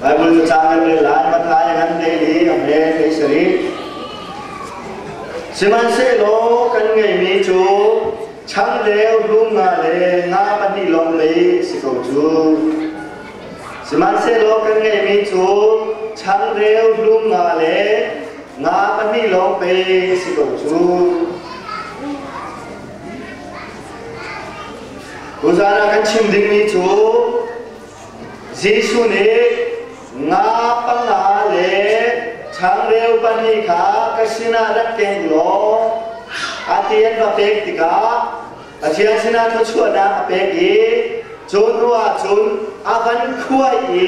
Baibal na cang nan rel lai, Matthai ngan te i Amen ti sarih. Sihmanhsehlaw kan ngeihmi cu chang leu hlum nga le nga pahnih lawng mei si ko cu. Sihmanhsehlaw kan ngeihmi cu chang reu hlum nga le nga pahnih lawng pei si ko cu. Tuzan ah kan chim dingmi cu Jesuh nih nga panga le changreu pahnih kha ka sinah rak ke in law a ti an va pek tikah Pathian sinah thluachuahnak a pek i cun ruah cun a van khuai i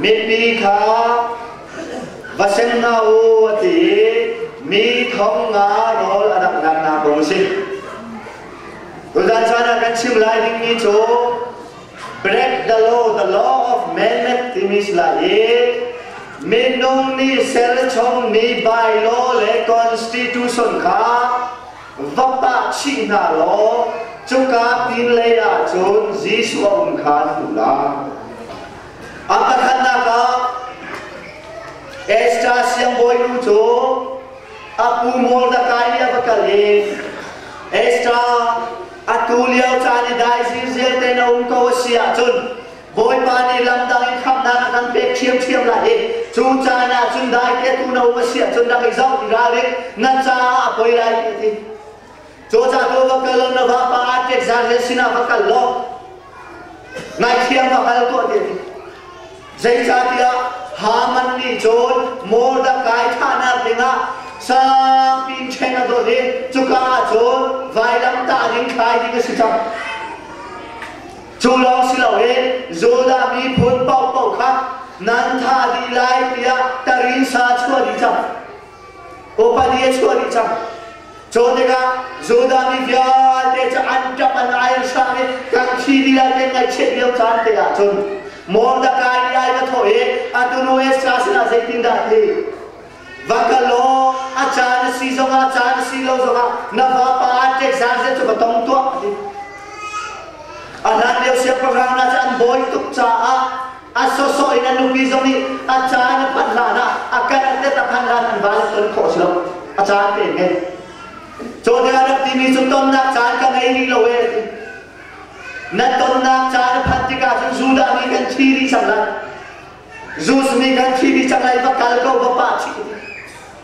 mipi kha va seng hna u a ti i mi thong nga rawl a rak naknak kong a si. Tuzan caan ah kan chim lai dingmi cu Break the law, the law of man timi si lai i minung nih serchom mi bylaw le constitution kha va pah chih hna law cuka pin lei ahcun Jesuh a um kha na hmuh lai. A pakhatnak ah Esther siangbawi nu cu a pu Mordekai nih a va kal i Esther Atu lio caan i daising zialte na um ko a si ahcun Bawipa nih lamdang in khamhnak a kan pek ṭhiamṭhiam lai i cu caan ah cun dai tetu na um a si ahcun rak i zoh i ralrin nan caah a poi lai ti a ti. Cu ca tu va kal na va pa a tet zan he sinah va kal law ngaithiam va hal tuah ti a ti. Zeicahtiah Haman nih cun Mordekai thahnak dingah sangpi ṭhen a doh i cuka ah cun vailamtah ding thlai ding a si cang. Cu lawng si loin Judah miphun paohpaoh kha nan thah dih lai tiah tarin sa chuah dih cang. Popali a chuah dih cang. Cu tikah Judah mi vialte cu an ṭap an ai sang i kan thli lila te ngaihchiat lio caan te ah cun Mordekai nih ai va thawh i atu nu Esther sinah zeitindah ti va kal law a caan a si zongah caan a si lo zongah na vapa an ṭek zan zet cu va tong tuah a ti. A hlan lio siangpahrang hna cu an bawi tuk caah a sawsawh in a nupi zong nih a ca in a phanh hlan ah a kal te a phanh hlan an vale ton khawh si lo a ca an pek he cawne a rak timi cu tonnak caan ka ngei rih lo e ti na tonnak caan a phanh tikah cun Judah mi kan thi rih cang lai Jews mi kan thi rih cang lai va kal ko va pa thi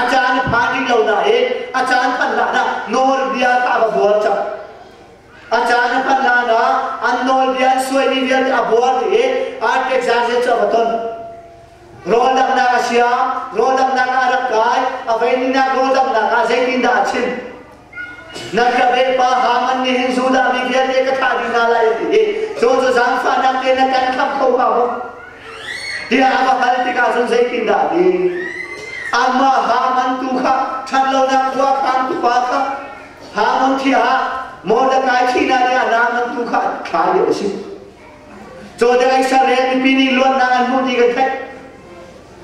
a caan i phan rih lo nain a caan phan hlanah nawlbia kha a va buar cang a caan a phan hlanah an nawlbia an suaimi vialte a buar i Artaxerxes cu a va ton rawl damnak a siam rawl damnak ah a rak kai a veinihnak rawl damnak ah zeitindah a chim Na ka vepa Haman nih hin Judah mi vialte ka thlah dih hna lai ti cu cu zaangfahnak te na kan khamh kho hnga maw? Tiah a va hal tikah cun zeitindah ti amah Haman tu kha ṭhat lonak khua khantu pa kha Haman thi ah Mordekai thihnak ding ah Naaman tu kha thlai dih a si. Cu te ai sare mipi nih luatnak an hmuh ti kan theih.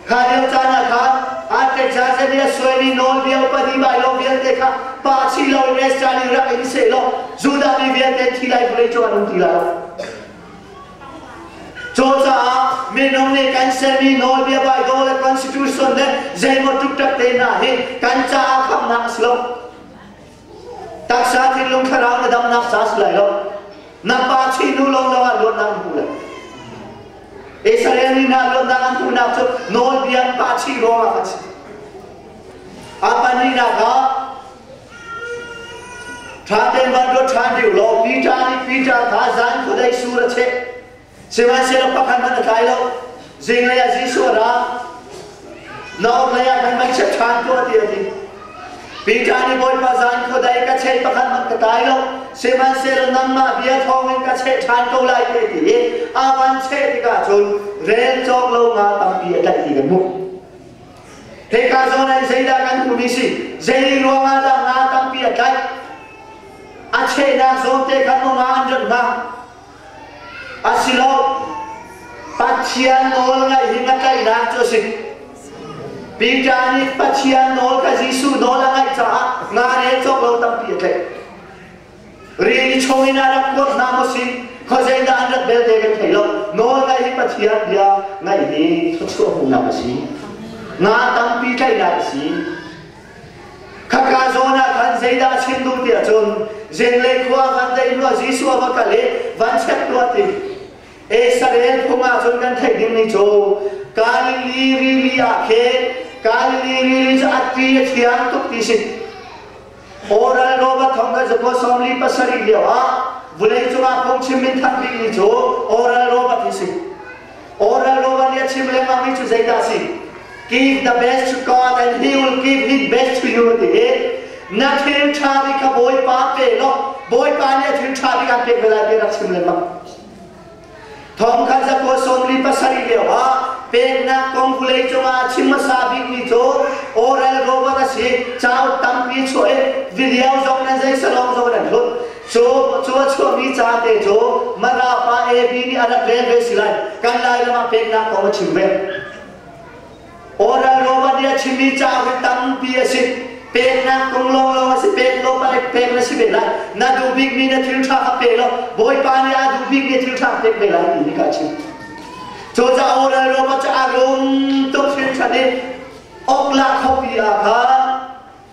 Kha lio caan ah khan Artexasenes suaimi nawlbia upadi bailo vialte kha pa si loin Esra rak in seh law Judah mi vialte thi lai vawlei cu an um ti lai. Cu caah minung nih kan sermi nawlbia Baibal le constitution le zeimaw tuk tak te hna hi kan caah khamnak a si lo. Taksa thinlung thlarau na damnak sa si lai lo. Na pa chinu lo lawngah luatnak an hmu lai. Israel mi na luatnak an hmuhnak cu nawlbia pa chi ruangah kan si. A panihnak ah ṭha tein van ruat ṭhan dih u law Peter nih Peter kha zan khuadei sur a cheh. Sihmanhsehlaw pakhat hmanh a tlai lo. Zinglei ah Jesuh a ra. Na orhlei ah kan vai chiat ṭhan tuah tiah a ti. Peter nih Bawipa zan khuadei ka chei pakhat hmanh ka tai lo, sihmanhsehlaw nangmah bia thawngin ka cheh ṭhan ko lai te ti i a van cheh tikah cun rel cawk lo nga tampi a tlaih ti kan hmuh. Hika zawn ah zeidah kan hmuhmi si, zei ruangah dah nga tampi a tlaih, a chehnak zawn te khan um ah an rat hnga, Asilo Pathian nawl ngaih hi nga tlaihnak cu a si. Peter nih Pathian nawl kha Jesuh nawl a ngaih caah nga le cawk lo tampi a tlaih. Rian i chung in ah rak kuat hna mu si. Khua zeidah an rat belte kan thei lo. Nawl ngaih hi Pathian bia ngaih hi thluachuah hmuhnak a si. Nga tampi tlaihnak a si. Khaka zawn ah khan zeidah a chim duh ti ahcun zenglei khua ah khan tei hnuah Jesuh a va kal i van check tuah ti Israel phung ah cun kan theih ding ni cu Galili rili ah khe Galili rili cu atti a thiang tuk ti si Oral Robert thong kan zakuat sawmli pasarih lio ah vulei cungah phungchim min thanh bik ni cu Oral Robert hi si Oral Nova nih a chim lengmang mi cu zeidah a si? Give the best to God and He will give His best to you ti na thil tha ri kha Bawipa pe law Bawipa nih a thil tha ri an pek ve lai ti rak chim lengmang thong khat za ko somri pasari leo ha peknak kong vulei cungah chim hmasa bik mi cu oral rover a si cau tampi chuah i video zong nan zei salawng zong nan hlut Cu cu a chuahmi ca te cu Mara pa AB nih a rak rel ve si lai. Kan Lairam ah peknak kong a chim ve. Oral Roman nih a chimmi ca hi tampi a si. Peknak kong lawnglawng a si. Pek law pa pek na si ve lai. Na duh bikmi na thil ṭha kha pe law Bawipa nih a duh bikmi thil ṭha a pek ve lai ti hi ka chim. Cucaah Oral Roman cu a rum tuk hringhran i Okla khuapi ah khan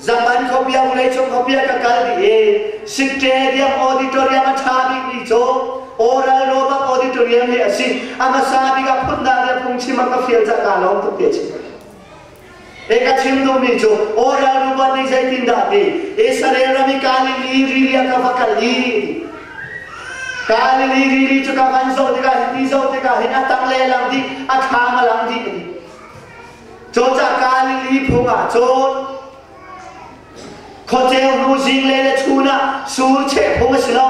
Zaman khopia vawlei cung khopia ka kal dih i Sikṭe diam auditorium a ṭha bikmi cu Oral Robot Auditorium hi a si. A hmasa bik ah phundang le phungchim a ka fial cak kaa lawm tuk ti a si. E ka chim duhmi cu Oral Robot nih zeitindah ti Israel ram i Galilee rili ah ka va kal i Galilee rili cu ka van zoh tikah hin ti zoh tikah hin a tang lehlang dih a thlam a lang dih a ti. Cawcah ka lili phung ah cun khuaceu hnu zing le le chun ah su cheh phung a si lo.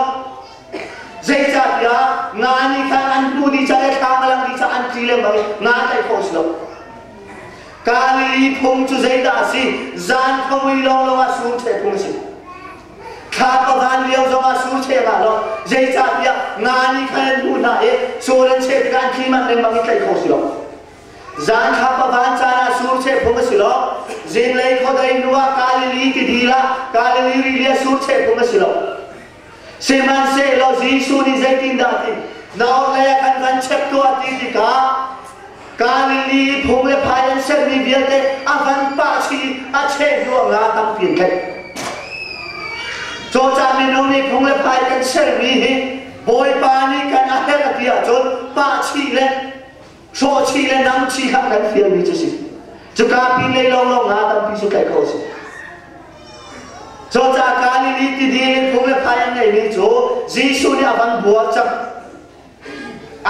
Zeicahtiah nga nih khan an hnu di ca le thla ngalang di ca an tli lengmang i nga tlaih khawh a si lo. Kalili phung cu zeidah a si? Zan khuamui lawnglawng ah sur cheh phung a si. Thla pavan lio zong ah sur cheh nga lo. Zeicahtiah nga nih khan an hnu hna i sur an cheh tikah an tli manh lengmang i tlaih khawh a si lo. Zan kha pavan caan ah sur cheh phung a si lo. Zinglei khuadei nu ah Galilee tidil ah Galilee rili ah sur cheh phung a si lo. Sihmanhsehlaw Jesuh nih zeitindah a ti? Na orhlei ah kan van chek tuah ti tikah Galilee phung le phai an sermi vialte a van pahchih i a cheh hnuah nga tampi an tlaih. Cawcah minung nih phung le phai kan sermi hi Bawipa nih kan a herh a ti ahcun pahchih le hrawhchih le namchih kha kan fialmi cu si cuka pinlei lawnglawng hna tampi cu tlaih khawh a si cuca Galilee tidil in kum le phai an ngeihmi cu Jesuh nih a van buar cang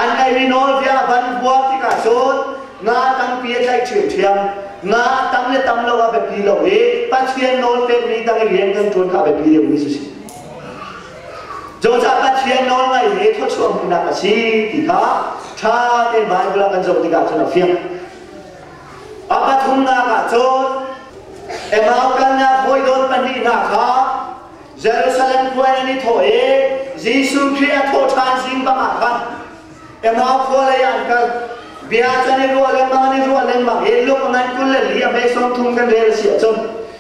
an ngeihmi nawlbia a van buar tikah cun nga tampi a tlaih ṭhiamṭhiam nga tam le tam lo a biapi lo i Pathian nawl pekmi tang i rian kan ṭuan kha a biapi deuhmi cu si Cawcah Pathian nawlngaih he thluachuah hmuhnak a si ti kha ṭha tein Baibal ah kan zoh tikah cun a fiang. A pathumnak ah cun Emau kalnak hawidawn pahnih hna kha Jerusalem khua in an i thawh i Jesuh Khrih a thawh ṭhan zing bangah khan Emau khua lei ah an kal. Bia can i ruah lengmang an i ruah lengmang i luk ngan kul le li a hme sawm thum kan rel a si ahcun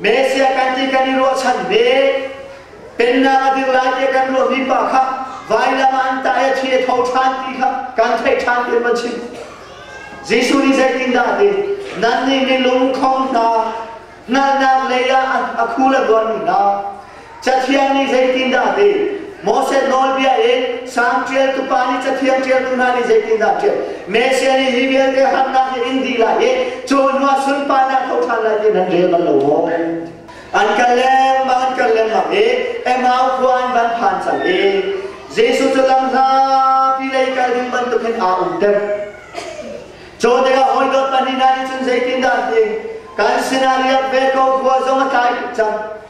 Mesia kan ti kan i ruahchan ve. Pennak a dirh lai i kan ruahmi pa kha vailam ah an tai a thi a tho ṭhan ti kha kan theih ṭhan tian van chim. Jesuh nih zeitindah a ti? Nannih milung khong hna hngalhnak lei ah a khu le ruahmi hna, Cathiang nih zeitindah a ti? Moses nawlbia in Salm ṭialtu pa nih Cathiang ṭialtu hna nih zeitindah a ṭial? Messiah nih hi vialte harnak hi in dih lai i cu hnuah sunparnak tho ṭhan lai ti nan rel bal lo maw? An kal lengmang an kal lengmang i Emau khua an van phan cang i Jesuh cu lam hlapi lei kal ding bantukin aa umter. Cu tikah hawidawt pahnih hna nih cun zeitindah an ti? Kan sinah riak ve ko, khua zong a tlai tuk cang.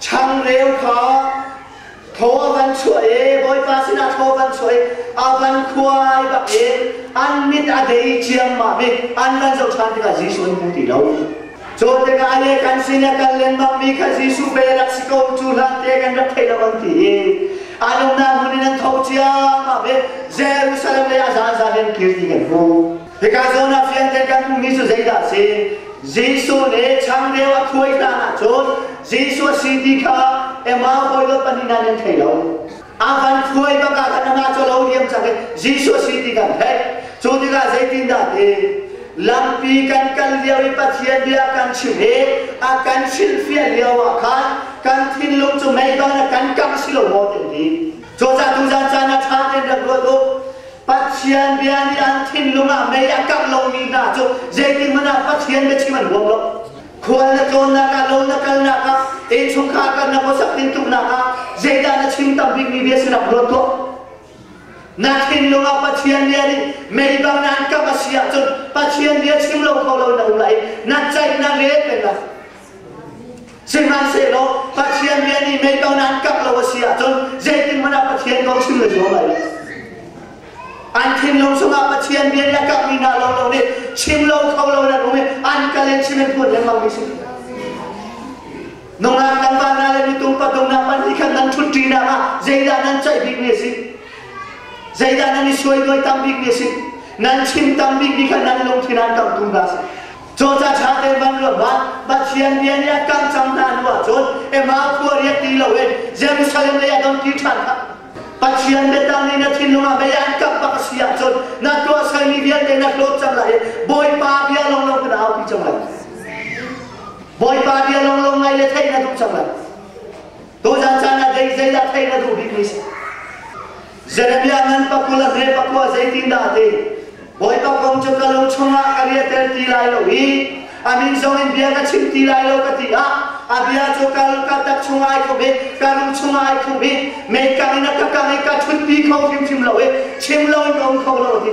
changreu kha tho a van chuah i bawipa sinah tho van chuah i a van khuai bak in an mit a dei ciammam i an van zohṭhan tikah Jesuh an hmu ti lo cu tikah le kan sin a kal lengmang mi kha Jesuh be rak si ko cu hlan te kan rak thei lo an ti i an umnak hmun in an tho ciammam i Jerusalem le a zaan zaan in kirti kan hmu Hika zawn ah fian kan kan hmuhmi cu zeidah a si? Jesuh nih changreu a khuai hlan ahcun Jesuh a si ti kha Emau hawidawt pahnih nan an thei lo. A van khuai bak ah khan amah cu lo diam cang i Jesuh a si ti kan theih. Cu tikah zeitindah ti? Lampi kan kal lio i Pathian bia kan chim i a kan hrilhfiah lio ah khan kan thinlung cu meiban a kan kangh si lo maw ti an ti. Cuacah tuzan caan ah ṭha tein rak ruat u. Pathian bia nih an thinlung ah mei a kangh lomi hna cu zeitikhmanh ah Pathian biachim an ruang lo. Khual na tlawnnak ah, lo na kalnak ah, innchungkhar kan na khuasak ding tuknak ah zeidah na chim tam bikmi bia si nak ruat tuah. Na thinlung ah Pathian bia nih mei bang nan kangh a si ahcun Pathian bia chim lo kho lo na um lai. Na ceih na rel peng lai. Sihmanhsehlaw Pathian bia nih meitonan kak lo a si ahcun zeitin hmanh ah Pathian kong chim le zuam lai An thinlung chungah Pathian bia nih a kak mi hna lo lo nih chim lo kho lo in an um i an kal in chim in phuan lengmang mi si. Nungak kan van hna le mitung pathumnak pan hi khan nan ṭhut ṭinak ah zeidah nan ceih bik mi a si? Zeidah nan i suai duai tam bik mi a si? Nan chim tam bik mi khan nan lungthin an kang tung dah a si. Cawca ṭha te ban lo la Pathian bia nih a ṭang cang hna hnu ahcun Emau khua riak ti loin Jerusalem lei a dong ti ṭhan kha Pathian biatang nih na thinlung ah mei an kap bak a si ahcun na tuah salmi vialte na hlawt cang lai i Bawipa bia lawnglawng cu na aupi cang lai Bawipa bia lawnglawng ngaih le theih na duh cang lai Tuzan caan ah dei zeidah theih na duh bikmi a si Jeremiah ngan pakua le hre pakua zeitindah ti Bawipa kong cu ka lung chungah ka riahter ti lai lo i a min zong in bia ka chim ti lai lo ka ti ah a bia cu ka ka tak chungah ai khum i ka lung chungah ai khum i mekang in a ka kang i ka ṭhutpi kho hrimhrim lo i chim lo in ka um kho lo ti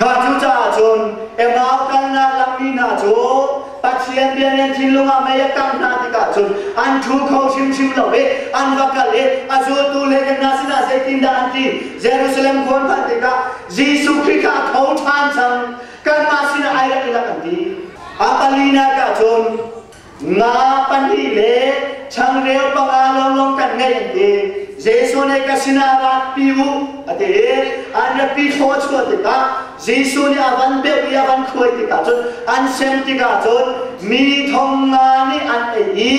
Kha cucaah cun Emau kalnak lammi hna cu Pathian biakinn thinlung ah mei a kangh hna tikah cun an ṭhu kho hrimhrim lo i an va kal i a zultu lehkek hna sinah zeitindah an ti Jerusalem khua hna tikah Jesuh Khrih kha a tho ṭhan cang kanmah sinah ai rak i lak an ti a palinak ah cun nga pahnih le changreu panga lawnglawng kan ngei an ti Jesuh nih ka sinah ratpi u a ti i an ratpi thlaw chuah tikah Jesuh nih a van beuh i a van khuai tikah cun an sem tikah cun mi thong nga nih an ei i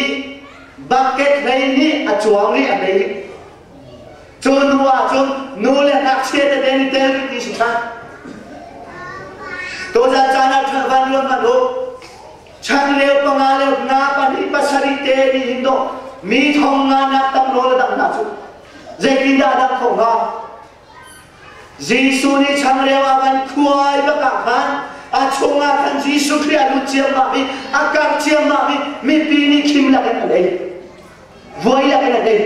bucket hlei nih a cuang i an ei cu hnu ah cun nu le ngakchia tete nih tel rih ti si than tuzan caan ah ṭhan van ruat hmanh u Chan leu panga leu na pahnih pasarih te ni hin do mi thong nga nak tam rawl dang na cu zeitin dah dang khong nga Jesuh ni changreu a kan khuai baka khan a chungah kan Jesuh Khrih a lut ciam ma mi a kar ciam ma mi mipi ni khim lakin a lei Voi lak in a din.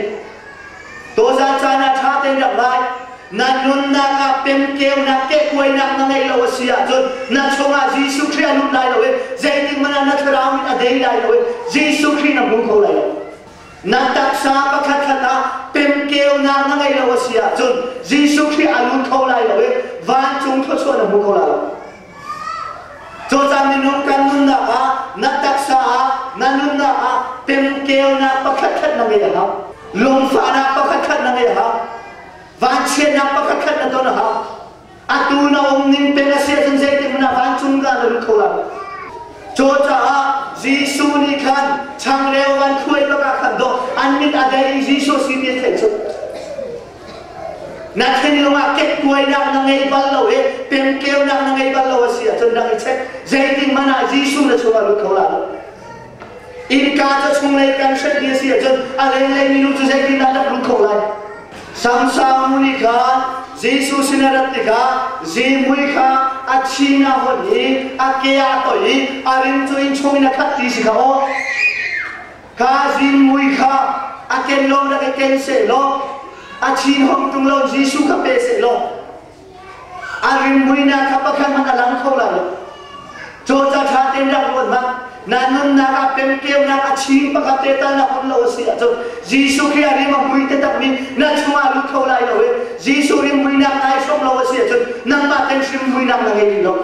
Tozan caan ah ṭha tein rak lai. Nan nunnak ah pemkeunak, kehkuainak na ngeih lo a si ahcun na chungah Jesuh Khrih a lut lai lo i zeitik hmanh ah na thlarau mit a dei lai lo i Jesuh Khrih na hmu kho lai lo. Nan taksa pakhatkhat ah pemkeunak na ngeih lo a si ahcun Jesuh Khrih a lut kho lai lo i vancung thluachuah na hmu kho lai lo. Cawcang minung kan nunnak ah na taksa ah na nunnak ah temkeunak pakhatkhat na ngei a hau. Lungfahnak pakhatkhat na ngei a hau. Vanchiatnak pakhatkhat na ton a hau. Atu na um ning peng a siah cun zeitik hmanh ah vancung da na lut kho lai. Cu caah Jesuh nih khan changreu van khuai bakah khan doh an min a dei Jesuh si ti a theih cu. Na thinlung ah ketuainak na ngei bal lo i pemkeunak na ngei bal lo a si ahcun rak i check. Zeitin hmanh ah Jesuh na chungah lut kho la lo. Innka cu chunglei kan hrat ni a si ahcun a lenglei minu cu zeitin dah rak lut kho lai. Samsang nih khan Jesuh sin a rat tikah zimui kha a thin a hon i a ke a toih i a rim cu inn chung in a khat ti si kha aw. ka zin mui kha a ken law rak i ken seh law a chin hom tung lo Jesuh kha pe seh law a rim muina kha pakhat hmanh a lang kho lo cawca ṭha ten rak ruat hmang na nunnak a pemkeunak a chim pakhat te tal na hon lo a si ahcun Jesuh Khrih a rim a mui te takmi na chungah lut kho lai lo i Jesuh rim muinak nai hrawm lo a si ahcun nangmah ten hrim muinak na ngei rih lo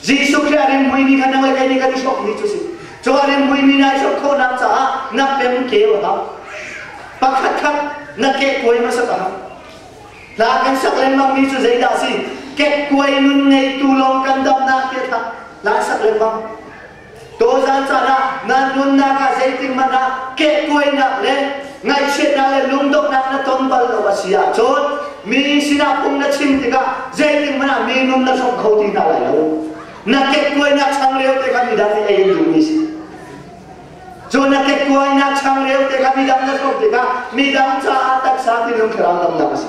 Jesuh Khrih a rimhmui mi kha na ngaih le nih kan i sok mi cu si. Cu a rimhmui mi na i sok khawhnak caah nak le mu ke u hlah. Pakhat khat na kehkuai hmasat a hau. Hla kan sak lengmang mi cu zeidah a si? Kekkuai nun ngeitu lawng kan damnak tiah hla sak lengmang. Tawzan caan ah nan nunnak ah zeitikhmanh ah kehkuainak le ngaihchiatnak le lungdonghnak na ton bal lo a si ahcun mi sinah phung na chim tikah zeitikhmanh ah mi nun na hrawk kho ti hna lai lo. Na kehkuainak chang lio te khan midang nih ei an duhmi si. Cu na kehkuainak chang lio te khan midang na hrawk tikah midang caah taksa thinlung thlarau damnak a si.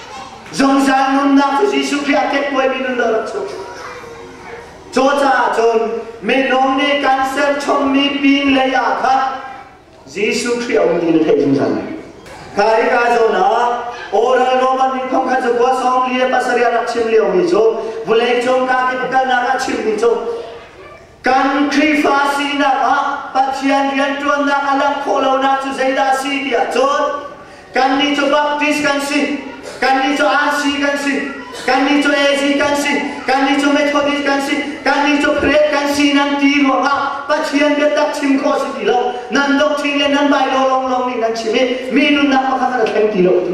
Zungzal nunnak cu Jesuh Khrih a kekkuaimi nun lo rak chung. Cu caah cun minung nih kan sen chungmi pin lei ah khan Jesuh Khrih a um ti na theih zungzal. Kha hi kaa zawn ah Oral Roman nih khong khan cukua sawng li le pasarih rak chim liomi cu vulei cung kaa kip kalnak ah chimmi cu Kan Khrihfa sinak ah Pathian rianṭuannak a langh khawh lonak cu zeidah a si tiah cun kannih cu Baptist kan si, kannih cu RC kan si, kannih cu AZ kan si, kannih cu Methodist kan si, kannih cu Creed kan si nan ti ruangah Pathian biatak chim khawh si ti lo. Nan doctrine le nan Baibal lawnglawng nih nan chim i mi nunnak pakhat hmanh a thleng ti lo ti.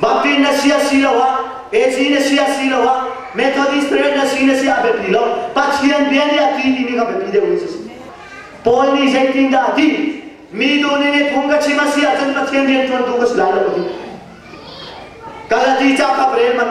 Baptist na si asiloah AG na si asiloah Methodist parent na si na si a biapi lo. Pathian bia nih a ti timi kha biapi deuh in si. Paul nih zeitindah a ti? Mi tu nih phung ka chim a si ahcun Pathian rianṭuantu ka si lai lo. Galati cakap rel man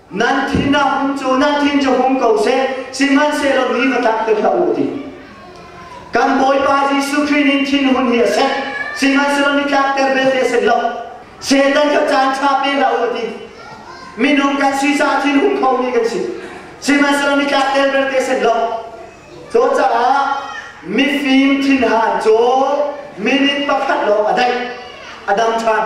nan thin a hung cu nan thin cu hung ko seh sihmanhsehlaw mi va tlak te hlah u ti kan bawipa jesuh khrih nin thin hun hi a sek sihmanhsehlaw ni tlak ter belte sen lo setan ka caan tha pe hlah u ti minung kan si sa thin hung kho mi kan si sihmanhsehlaw ni tlak ter belte sen lo to caah mifim thinhan cu minute pakhat lawng a daih a dang than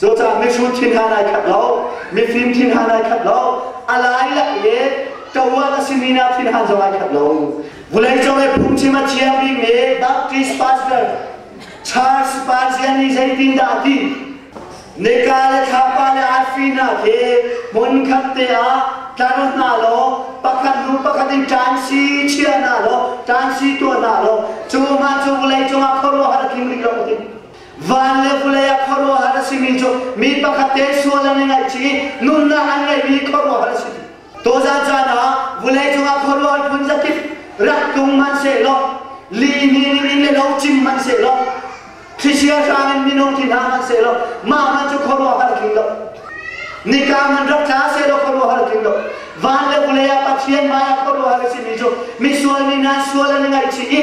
Cucah mihrut thin ha nai khat lo, mifim thin ha nai khat lo, a lai lak i ṭawan a simi na thin ha zong ai khat lo. Vulei cung i phungchim a chia bikmi Baptist Pastor Charles Pazian nih zeitindah a ti? Nika le thlapa le arfi hna khi hmunkhat te ah tlar hna law pakhat hnu pakhat in ṭan si chia hna law ṭan si tuah hna law cu hna cu vawlei cungah khuaruahhar tling rih lo a ti. Van le vulei ah khuaruahhar a simi cu mi pakhat te sual an i ngaihchih i nunnak an ngeihmi khuaruahhar a si. Tuzan caan ah vulei cungah khuaruahhar phun zakip rak tlung hmanhsehlaw lihni ning in le lo cim hmanhsehlaw thlisia hrang in minung thi hna hmanhsehlaw mah hmanh cu khuaruahhar tling lo nika man rak tla sehlaw khuaruahhar tling lo van le vulei ah pathian hmaiah khuaruahhar a simi cu misual nih nan sual an i ngaihchih i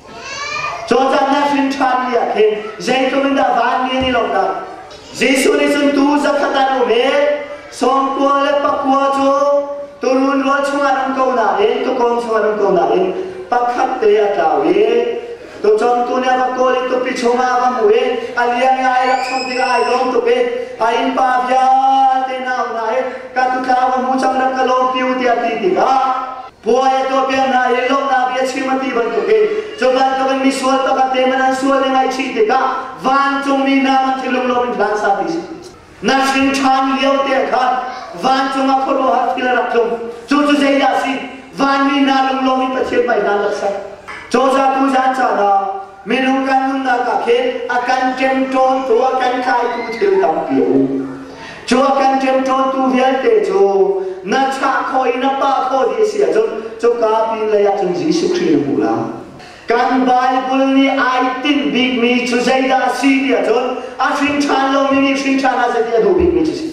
Cawcaan na hrin ṭhan ni ah khin zeitluk in dah van nge ni lo lang Jesuh nih cun tuu zakhat an um i sawmkua le pakua cu turun rual chungah an um ko nain tukawm chungah an um ko nain pakhat te a tlau i tucawmtu nih a va kawl i tupi chungah a va hmuh i a liang i ai rak chong tikah ai lawm tuk i a innpa vialte nau hna i ka tu tlau ka hmu cang rak ka lawm piu tiah a ti tikah puai a tuah piak hna i lawmhnak bia chim a ti bantuk hin cu bantuk in misual pakhat te man an sual le ngaihchih tikah vancungmi hna man cu lunglawm in hlan sa ti nahring ṭhan lio te khan vancung ah khuaruahhar thil a rak tlung cu cu zeidah a si vanmi hna lunglawm in pathian bai hna rak sak cawzatu zan caan ah Minung kan nunnak ah khin a kan ṭemṭawntu, a kan tlaitu thil tampi a um. Cu a kan ṭemṭawntu vialte cu na chah khaw i na pah khaw dih a si ahcun cuka pinlei ah cun Jesuh Khrih na hmu lai. Kan Baibal nih ai tinh bikmi cu zeidah a si ti ahcun a hrinṭhan lomi nih hrinṭhan ah zeiti a duh bikmi cu a si.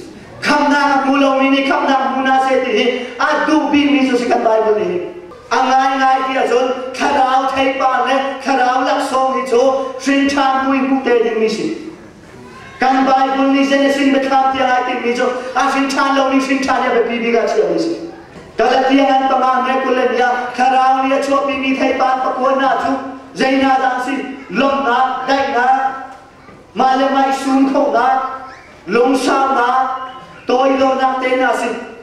Khamhnak a hmu lomi nih khamhnak a hmu hna seh ti hi a duh bikmi cu a si kan Baibal nih hin. a ngaingai ti ahcun thlarau theipa le thlarau laksawng hi cu hrinṭhan mui hmuh te dingmi si kan baibul nih genesis biathlam tiang ai timmi cu a hrinṭhan lomi hrinṭhan hi a biapi bik ah chiami si galatian an panga he kul le ni ah thlarau nih a chuahpimi theipan pakua hna cu zei hna dah si lawmhnak daihnak mah le mah i sum khonak lungsaunak tawi lonak te hna si